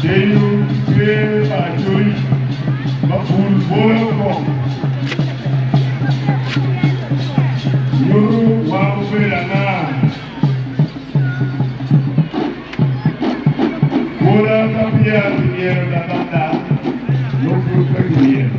Genyo tye pa acoyi ma pul bole woko. Nyuto wang obedo anga? Bwola ka peya kimyero daba ada, nongo pud pe kimyero.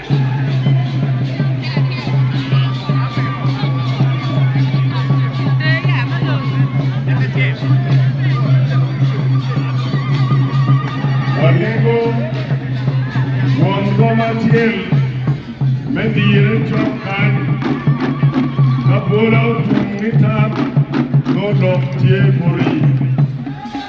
Wamego twon boma acel me dire cok kany ka bwola otum nitam nonok tye muri.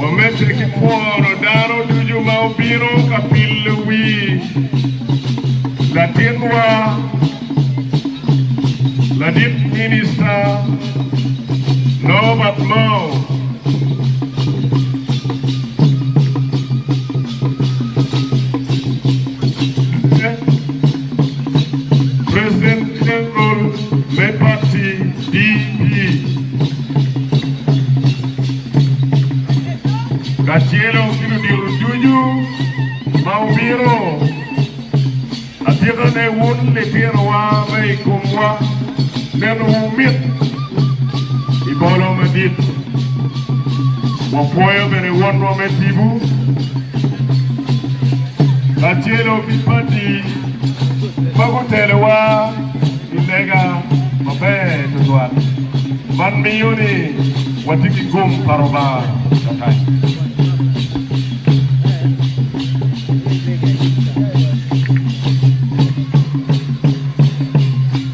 Wamedde ki pworo dano ducu ma obino ka pilo wi latinwa ladit minista Norbert Mao. President General me pati DP kacelo ki ludito ducu ma wubino atikane wun litinowa ma i komwa neno wumit i bolo madit. Wapwoyo bene Wonwa me Tipo kacelo ki Padi ma gutelowa i lega maber tutwal. Man miyo ni watye ki gum pa Lubanga kakany.